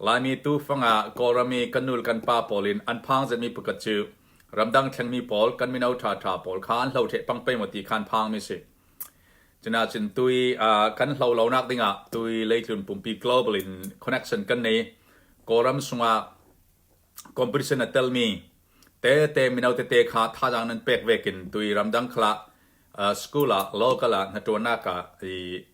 Laimi tuufang ah Kawlram i kan nu le kan pa pawl in an phang zenhmi pakhat cu ramdang thlengmi pawl, kan mino ṭhaṭha pawl kha an hlo ṭheh pang pei maw ti kha an phangmi a si. Cunain tui uh, kan hlo lonak dingah tui leitlun pumpi global in connection kan nei. Kawlram sungah competition a telmi tete mino tete kha thazaang nan pek vekin tui ramdang khalah uh, school ah local ah hnaṭuannak ah i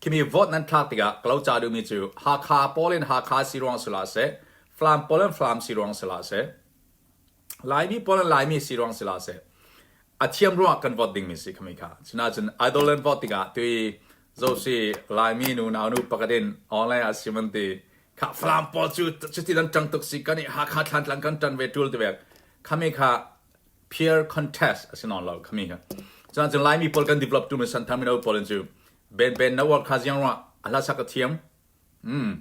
Khimi vote nan thlak tikah ka lo ca duhmi cu Hakha pawl in Hakha si ruang si hlah seh, Flam pawl in Flam si ruang si hlah seh, Laimi pawl in Laimi si ruang si hlah seh, a thiam ruangah kan vote dingmi si khami kha. Sinacun idol in vote tikah tui zosi Laimi nu naunu pakhat in online ah sim an ti kha Flam pawl cu cuti dan ṭang tuk si kan i Hakha thlantlang kan ṭan ve ṭul te vek. Khami kha peer contest a si nawn lo khami hi cuan cun Laimi pawl kan develop tu misan thar mino pawl in cu ben ben na war kha ziang rah a hlasak a thiam mm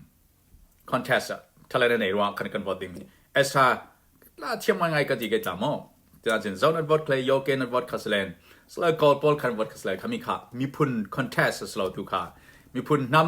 contest ah thale na nei rah kan kan vote ding as ha la thiam ngai ngai ka ti ke tla mo tian chin zone at vote khle yo ke na vote khaslen sla kol pol khan vote khasle khami kha mi phun contest slo tu kha mi phun nam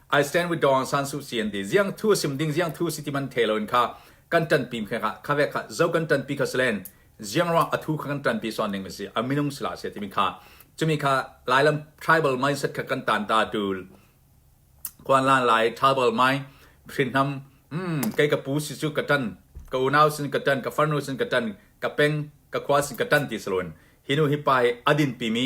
I stand with Dawn San Suu Kyi an ti. Ziang thu a sim ding ziang thu si ti man the loin kha kan tanpi kha kha kha ve kha zo kan tanpi kha silen ziang ruang a thu kha kan tanpi son ning si a minung sila se timi kha chumi kha lailam tribal mindset kha kan tan ta dul kwan lan lai tribal mind hrinham mm kai ka pu si chu ka tan ka unau sin ka tan ka farnu sin ka tan ka peng ka khwa sin ka tan ti salon hinu hi pai adin pimi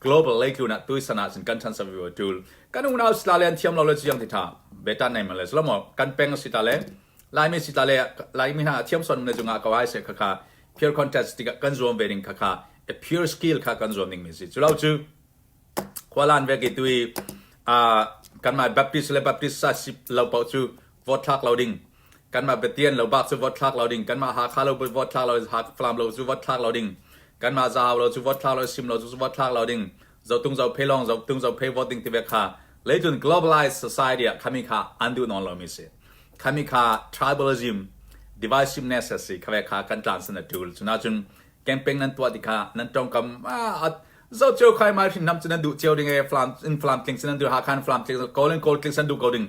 global leitlun ah tuisan ah cun kan chan sak ve tul kan unau Australia an thiam lo le ciang titha betan nei man le slomo kan peng si ta le laimi si ta le laimi hna thiam son ne junga ka wai se kha kha peer contest ti kan zuam ve ning kha kha a pure skill kha kan zuam ning mi si chulau chu khwalan ve ki tui a kan mai baptist le baptist sa si lo pau chu vote thlak lo ding kanmah Pathian lo bak cu vote thlak lo ding kanmah Hakha lo vote thlak lo Falam lo cu vote thlak lo ding kanmah Zahau lo cu vote thlak lo Sim lo cu vote thlak lo ding zotung zo phe long zotung zo phe voting te ve kha leitlun globalized society ah khami kha an duh non lo mi si khami kha tribalism divisiveness si khawe kha kan tlan san tul chuna chun campaign nan tuwa ti kha nan tongkam a zo cheu khai mai hrin nam chin an du cheu ding e flam in flam tling sin an du ha khan flam tling golden gold tling san du ko ding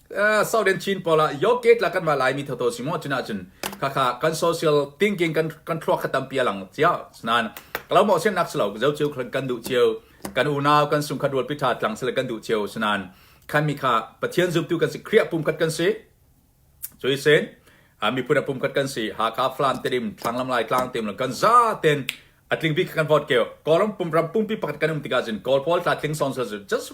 Southern Chin pawl ah Yok gate la kan va lai mi tho si mu cun ahcun khakha kan social thinking kan kan thluak kha tampi a lang cia nan kalau mo sen nak selo zo chiu kan du chiu kan unau kan sung kha dual pitha tlang sele kan du chiu sunan khan mi kha pathian zumtu kan si kriya pum khat kan si cui sen ami puna pum khat kan si ha ka flam terim thanglam lai tlang tem la kan za ten atling bi kan vote keo kolom pum ram pum pi pakhat kan um tika jin kol pol tla tling son so just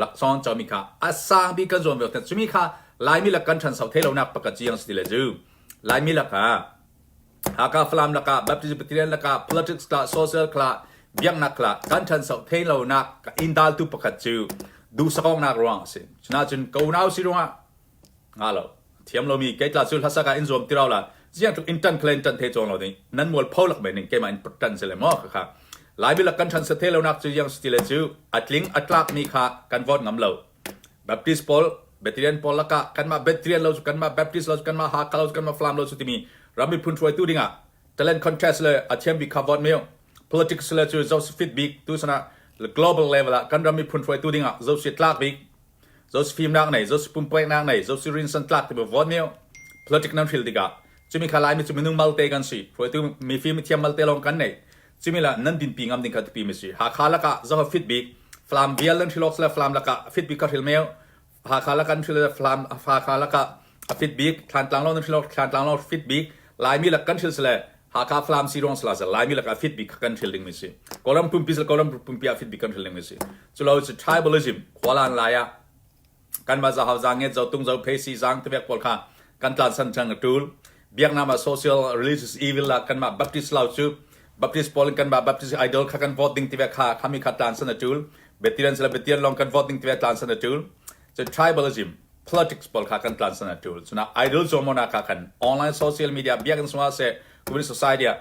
Lakcawng cawmi kha a sangbik kan zuam vialte cumi kha Laimi lak kan ṭhanso thei lonak pakhat ci ang si ti le cu Laimi lak ah Hakha Falam lakah Baptist Presbyterian lakah politics kha social kha biaknak kha kan ṭhanso thei lonak in daltu pakhat cu duhsakawknak ruang a si. Cunain ka unau si ruangah Nga lo. Thiam lomi keitla cu hlasak ah in zuam ti rau la. Ciang tluk in ṭan khale in ṭan the cawng lo ding. Nan mual pho lak men ning keimah in put ṭan se le maw kha kha. Lai bil kan ṭhan sathe lonak cu yang siti le cu a tling a tlak mi kha kan vote ngam lo. Baptist pawl Bethlehem pawl lakah kanmah Bethlehem lo cu kanmah Baptist lo cu kanmah Hakha lo cu kanmah Flam lo cu timi ram miphun hruaitu dingah talent contest le a thiam bik kha vote meu. Politics le cu Joseph fit bik tu sanah global level ah kan ram miphun hruaitu dingah Josie tlak bik Zosi fimnak nei, Zosi pumpueknak nei, Zosi rinsan tlak tiva vawt mio politic nan hril tikah cumi kha Laimi cu minung malte kan si. Hruaitu mifim thiam malte lawng kan nei. Cumi lah nan dinpi ngam ding kha tipi mi si. Hakha lakah zoha fit bik Flam vial nan hril awk sile Flam lakah a fit bik ka hril meo. Hakha lakah nan hril le Flam Hakha lakah a fit bik Thlantlang lo nan hril awk Thlantlang lo fit bik Laimi lak kan hril sile Hakha Falam Siloang Salasa Laimi lakah fit bik kha kan hril ding mi si. Kawlram pumpi sal kawlram pumpi ah fit bik kan hril ding mi si. Culo cu tribalism khualan lai ah kan ma zahau zang nget zo tung zo phe si zang tevek pawl kha kan tlan san chang tul. Biaknam ah social religious evil la kan ma Baptist lau cu Baptist pawl in kan ma Baptist idol kha kan vote ding tevek kha khami kha tlan san tul. Betiran sala betian long kan vote ding tevek tlan san tul. Cun tribalism politics pawl kha kan tlansan a ṭul. Cunah idol zawmona kha kan online social media biakinn sungah seh community society ah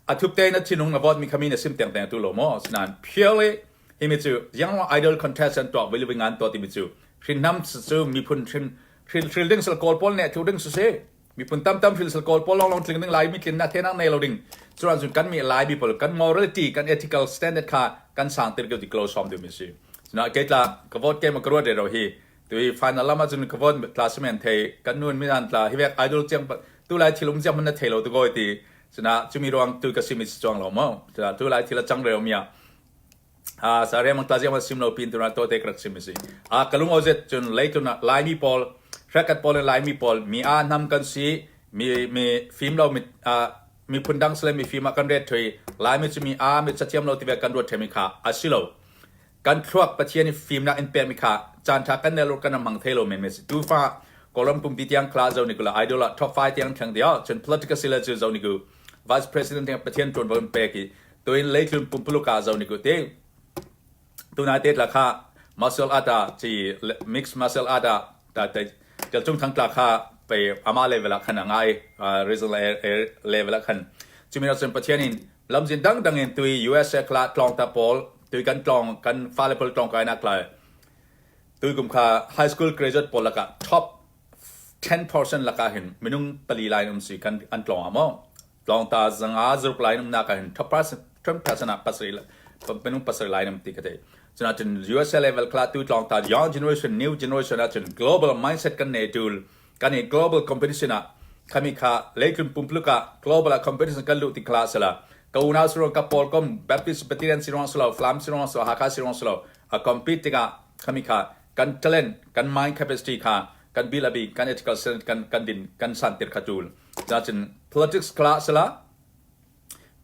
a thukte in a thinhung na vote mi khami na sim tengteng tu lo maw sinain purely himi cu yang idol contest an tuah vili ngan to timi cu hrinhnam cu miphun hrin hrin ding sal kawl pawl ne thu ding si si miphun tamtam hrilsal kawl pawl lawnglawng tling ding lai mi tlinnak thenak nei lo ding curan cun kan mi lai people kan morality kan ethical standard kha kan sang tir ko ti klo som ding mi si na ke tla ka vote ke ma ka ruat ro hi tu final lama cun ka vote tla semen thei kan nun mi nan tla hi vek idol chiang tu lai thilum chiang man na thei lo tu goi ti cuna chumi ruang tu ka simi chuang lo mo tu lai thila chang reo mia Sariang mangtaziang va sim lo pin tuna to te ka rak sim a si. Ka lungo zet cun leitun ah Laimi pawl, hrekat pawl le Laimi pawl mi aa nam kan si, mi mi fim lo mi miphun dang sile mi fim ah kan ret thoi. Laimi cu mi aa mit cathiam lo tive kan ruat themi kha a si lo. Kan thluak Pathian i fimnak in pekmi kha caan tha kan nel kan mang thei lo men me si. Tu fa Colum pumpi tiang kla zo ni kula idol ah top 5 tiang theng dia cun political sila cu zo ni ku Vice President he Pathian ṭuanvo in pek i tuin leitlun pumpuluk ah zo ni ku ting. Tuna te tla kha martial art ah ci mixed martial art ah ta tel chung thang tla kha pe ama level ah khan a ngai regional level ah khan cumi nak cun Pathian in lamzin dang dang in tui USA kla tlong ta pawl tui kan tlong kan fale pal tlong kai nak lai tui kum kha high school graduate pawl lakah top Ten portion lakah hin minung pali lai an um si an tlawng ah maw? Tlawngta zanga zaruk lai an umnak ah hin ten percent ah minung pasarih lai an um ti ka theih. Cunakin USA level kalatu tlawngta young generation, new generation ahcun global mindset kan nei tul. Kan i global competition ah kami kha leitlun pumpuluk ah global ah competition kan luh ti khala sala ka unau sirong ka paul kom baptist pathian sirong silo flam sirong silo haka sirong silo a compete tikah kami kha kan talent, kan mind capacity kha kan bil a bik, kan ethical cell kan kan din kan san tir kha tul. Cacin politics kla sala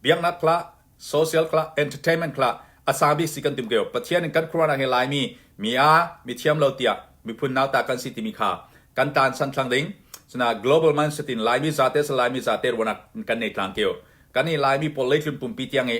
biaknak kla social kla entertainment kla asabi si kan tim keo pathian in kan khurana he lai mi mi a mi thiam lo tia mi phun nau ta kan si timi kha kan tan san thlang ding suna global mindset in lai mi zate sa lai mi zate rona kan nei tlang keo kan ni lai mi politics pumpi tiang e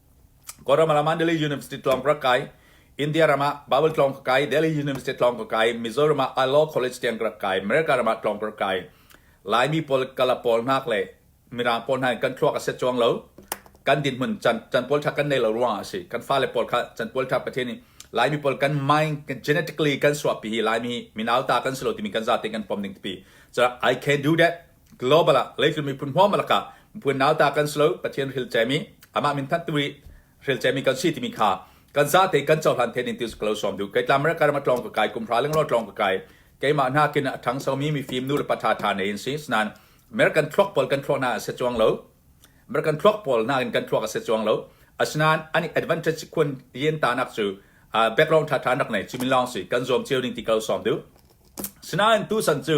Kawlram ah Delhi University tlawng ka rak kai. India ram ah Bible tlawng ka kai. Delhi University tlawng ka kai. Mizoram ah Law College tiang ka rak kai. America ram ah tlawng ka rak kai. Laimi pawl, kala pawl hnak le mirang pawl hna in kan thluak a set chuang lo. Kan dinhmun can, can pawl tha kan nei lo ruang ah a si. Kan fale pawl kha can pawl tha Pathian nih Laimi pawl kan mind kan genetically kan suahpi hi Laimi hi minauta kan si lo timi kan zate kan pom ding tipi. So I can do that. Global ah leitlun miphun hmuahhmuah lakah miphun nauta kan si lo. Pathian hrial cemi, amah min thanhtu i hrial cemi kan si timi kha kan zate kan cohlan thenin ti ka lo sawm duh. Kei tlamre ka ram a tlawng ka kai, kumhra lenglo tlawng ka kai. Keimah hna kin a ṭhang somi mifim nu le pa ṭha ṭha ne in si. Sinain American thluak pawl kan thluak na a si chuang lo. American thluak pawl nakin kan thluak a si chuang lo. Asinain an i advantage khun yen tanak cu uh, background ṭha ṭha rak nei. Cumin lawng si kan zuam cio ning ti ka lo sawm duh. Sinain tusan cu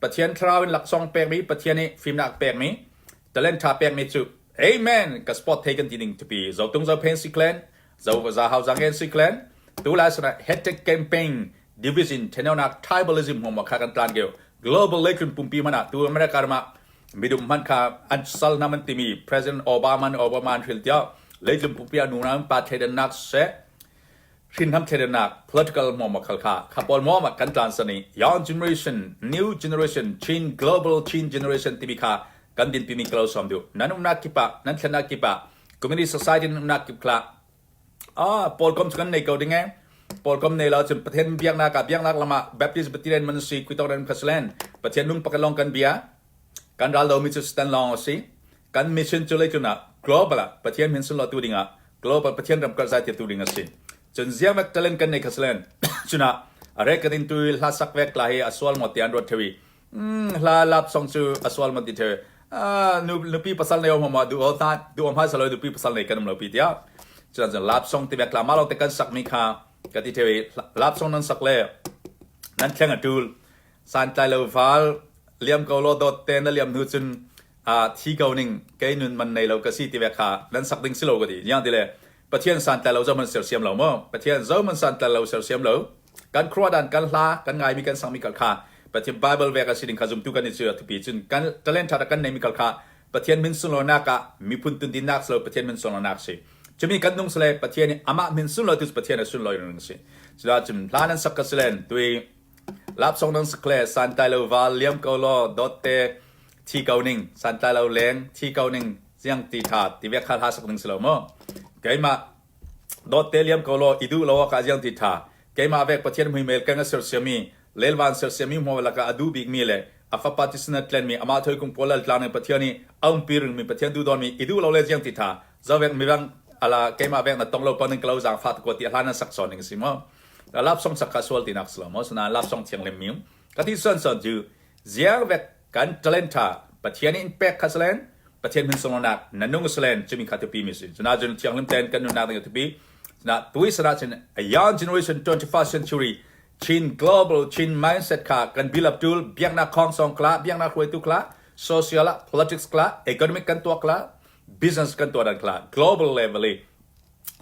Pathian thlarau in laksawng pekmi Pathian nih fimnak a pekmi talent ṭha pekmi cu Amen ka sport thei kan ti ning tipi zotung zophen si clan zo za hau zangen si clan tu lai sana hectic campaign division thenawnak tribalism hom kha kan tlan keu global lekhun pumpi mana tu america ma midum man kha an sal nam an timi president obama obama an hril tia leitlum pumpi anu na pa thleidan nak se hrinhram thleidannak political muamakhal kha kha pawl muamah kan tlansan i young generation new generation chin global chin generation timi kha kan dinpimi ka lo som duh nan umnak kip ah nan thlennak kip ah community society nan umnak kip khla ah paul kom cu kan nei ko ding e paul kom nei lo cun pathian biaknak ka biaknak lama baptist batilen man si kuitok ren khaslen pathian lung pakalong kan bia kan ral domi cu stan long si kan mission cu lei tlun ah global ah Pathian min sunhlawhtu ding ah global Pathian ramkulh zaitirtu ding a si. Cun ziavat talent kan nei kha silen cunah rekodin tu hla sak vek la hi a sual ngawt ti an ruat thewi hla lap song cu a sual ngawt ti the nu nupi pasal nei om ma du o ta du om ha saloi nupi pasal nei kan um lo pi tia cun cun lap song ti vek la ma lo te kan sak mi kha ka ti thewi lap song nan sak le nan thleng a tul santlailo val liam ko law dawt te na liam hnu cun ah thi ko ning kei nun man nei lo ka si ti ve kha nan sak ding si lo ka ti niang ti le pathian santlai lo zohman sersiam lo maw pathian zohman santlai lo sersiam lo kan khruwa dan kan hla kan ngai mi kan sang mi kal kha pathian bible ve ka si ding kha zumtu kan ni chu thupi cun kan talent tha kan nei mi kal kha pathian min sun lo na ka mi phun tun din nak lo pathian min sun lo nak si chumi kan nung sale pathian amah min sun lo tu pathian sun lo ring si chula chum hla nan sak ka silen tui Lapsawng nan sak le santlai lo val liam ko law dawtte thi ko ning santlai lo leng thi ko ning ziang ti ṭha ti ve kha hla sak ning si lo maw keimah dawtte liam ko law i duh lo awkah ziang ti ṭha keimah vek Pathian muimel keng a sersiami lelvan sersiami hmuh lakah a duh bikmi le a fapa tisen a tlenmi amah thoikung pawl lal tlang ning Pathian i a umpi ringmi Pathian duhdawmi i duh lo le ziang ti ṭha zawvek mirang ala keimah vek na tong lo pa nan ka lo zaang fa ko ti hla nan sak sawn ning a si maw ka lap song sak ka sual tinak si lo maw sana lap song thiang lem miung ka ti son son cu ziar vek kan talen tha pathian in pek kha salen pathian min song nak na nung salen chumi kha tupi mi sin cuna jun thiang lem ten kan nun nak ding tupi na tui sana chin a young generation 21st century chin global chin mindset kha kan build up tul biak na khong song kla biak na khruai tu kla social politics kla economic kan tua kla business kan tua dan kla global level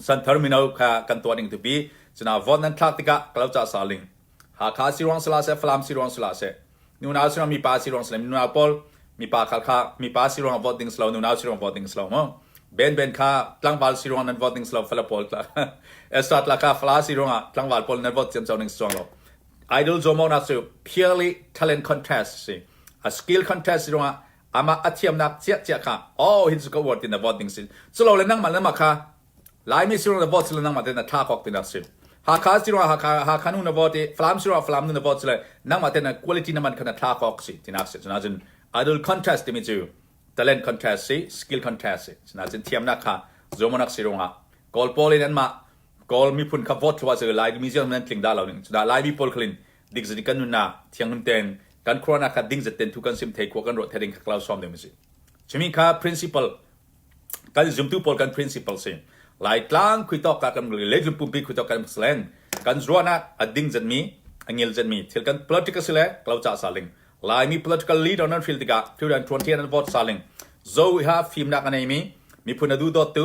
Santhar mino kha kan tuah ning tupi cuna vote nan thlak tikah ka lo ca saling Hakha si ruang si la seh Falam si ruang si la seh nunau si ruang mipa si ruang si le nunau pawl mipa kha kha mipa si ruang vote ding silo nunau si ruang vote ding silo mo ben ben kha tlangval si ruang nan vote ding silo fala pawl extra tla kha fala si ruang ah tlangval pawl nan vote ciam chau ning chuang lo idol zomo nak chu purely talent contest si a skill contest si ruang ah amah a thiamnak ciahciah kha oh hin su ka uar ti na vote ding si culo le nangmah le nangmah kha Laimi sirung na vote sile nangmah te na thla kok ti nak si Hakha sirung Hakha Hakha nu na vote i Falam sirung Falam nu na vote sile nangmah te na quality na man kha na thla kok si ti nak si cuna cun idol contest timi cu talent contest si skill contest si cuna cun thiamnak kha zomanak sirung ah Kawl pawl in anmah Kawl miphun kha vote thua cu Lai museum nan tling da lo ning cuna Lai mi pawl khalin dingzin kan nunnak thianghlim ten kan corona kha dingzet ten thu kan sim thei khua kan ruah thading kha klau som ding si chimi kha principle kan zumtu pawl kan principle si lai tlang khui tok ka kan le zum pumpi khui tok kan slen kan zuana ading zet mi angil zet mi thil kan political sile klau cha saling lai mi political leader nan feel tika thil dan tuan thian an vote saling zo ha fim nak anei mi mi phun adu dot tu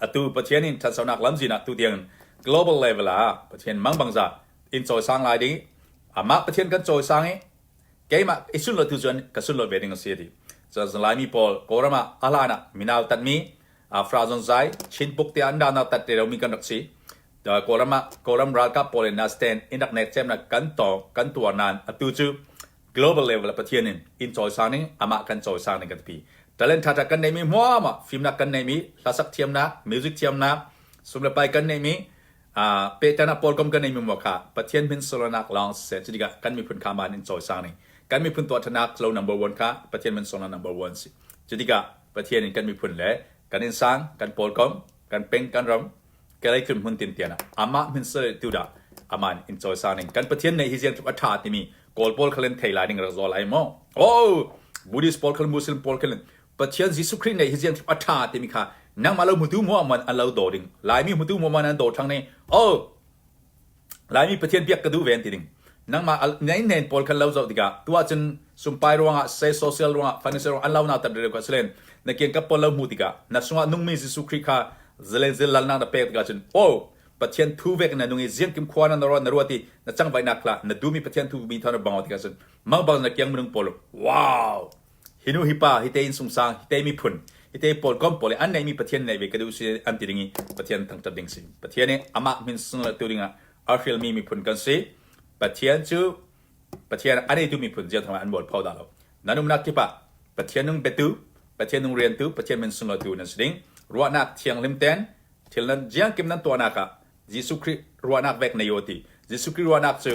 Atu Pathian in ṭhatlonak lamzin ah tutiang global level ah Pathian mangbangza in cawisang lai ding i amah Pathian kan cawisang i keimah i sunhlawh tu cun ka sunhlawh ve ding a si a ti. Cun Laimi pawl Kawlram ah a hlan ah minau tanmi fra zon zai Chin puk tiah an danau tat te romi kan rak si. Kawlram ah Kawlram ralkap pawl in na stand in rak net cemnak kan tawng kan tuar nain atu cu global level ah Pathian in in cawisang ning amah kan cawisang ning kan ti talent thatha kan neimi hmuama fimnak kan neimi hlasak thiamnak music thiamnak sum le pai kan neimi petana polkom kan neimi mo kha Pathian min solanak long sen chidika kan miphun khaman in cawisang ning kan miphun tuwa thatnak lo number 1 kha Pathian min sola number 1 si chidika Pathian in kan miphun le kan in sang kan polkom kan peng kan ram Kalay Phunhmun Tintian ah amah min sal tu dah amah in in cawisa ning kan Pathian neih hi ziamchuk a ṭha timi Kawl pawl kha len thei lai ning rak zaw lai maw? Oh Buddhist pawl kha Muslim pawl kha len Pathian Jesuh Khrih neih hi ziamchuk a ṭha timi kha nangmah lo hmutu hmuah man an lo daw ding Laimi hmutu hmuah man an daw ṭhang ni oh Laimi Pathian biak ka duh ve an ti ding. Nangmah naihnen pawl kha lo zoh tikah tuah cun sunpai ruangah sei social ruangah financial ruangah an lo nautar deuh ka si len na kian ka pawl lo hmu tikah na chungah nungmi Jesuh Khrih kha zalen zilalnak na pek tikah cun oh Pathian thu vek na nung i ziangkim khua na na ruat i na cangvaihnak kha na duhmi Pathian thu mi thawng na bangau tikah cun mang bang na kiang minung pawl wow Hi nu, hi pa, hi te inn sungsang, hi te miphun, hi te pawlkom pawl i an neihmi Pathian neih ve ka duh si an ti ding i Pathian thangṭhat ding si. Pathian i amah min sunlatu dingah a hrilmi miphun kan si. Pathian cu Pathian a neitu miphun zia thawngah an bual pho da lo. Nan umnak kip ah Pathian nung betu, Pathian nung riantu, Pathian min sunlatu nan si ding. Ruahnak thianghlim ten thil nan jiangkim nan tuahnak ah Jesuh Khrih ruahnak vek nei u ti. Jesuh Khrih ruahnak cu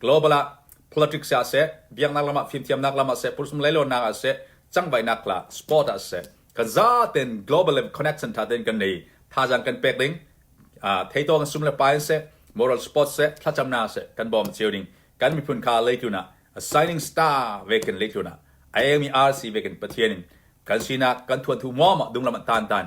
Global ah politics ah seh, biaknak lam ah fimthiamnak lam ah seh, pulsum leilawnnak ah seh, cangvaihnak la sport ah seh, kan zaten global le connection tha ten kan nei thazang kan pek ding theito kan sum le pai seh moral sport seh thlacamna seh kan bom cheu ding kan miphun kha leitluna a signing star ve kan leitluna ayami RC ve kan pathianin kan sina kan thuan thu mo ma dunglam tan tan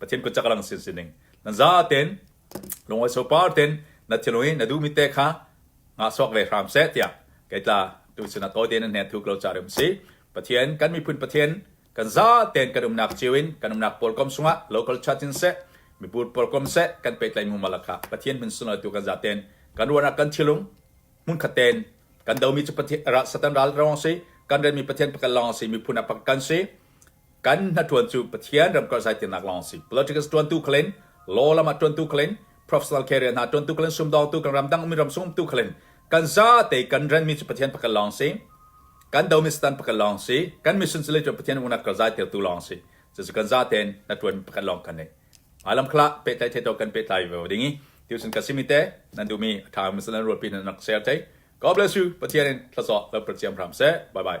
Pathian kut cak lang sin sining. Na za ten, lungawi sopar ten, na thilo i na duhmi te kha ngah suak ve hram seh tiah kei tla tu sinah to tein hne thu klo ca rim si. Pathian kan miphun Pathian kan za ten kan umnak cio in kan umnak pawl kom sungah local church in seh mipur pawl kom seh kan petlai mu malakha Pathian min sunal tu kan za ten kan ruanak kan thilung mun khaten kan domi cu Pathian ra satan ral rawang si kan remi Pathian pakal long si miphun apak kan si kan hnaṭuan cu Pathian ramkulh zaitirnak lawng a si. Politics ṭuantu khal in, law lam ah ṭuantu khal in, professional career hna ṭuantu khal in, sumdawngtu kan ram dang ummi ram sumtu khal in, kan zate kan renmi cu Pathian pakhat lawng a si. Kan domi Satan pakhat lawng a si. Kan mission cu le cu Pathian unat kan zaitirtu lawng a si. Cucu kan zate in hnaṭuanmi pakhat lawng kan ngei. Mah lam khal ah pehtlai theto kan pehtlai ve ding i, tucun ka simi te, nan duhmi a ṭha mi nan ruahpi nan rak share thai. God bless you, Pathian in thlacaw lo perciam hram seh. Bye bye.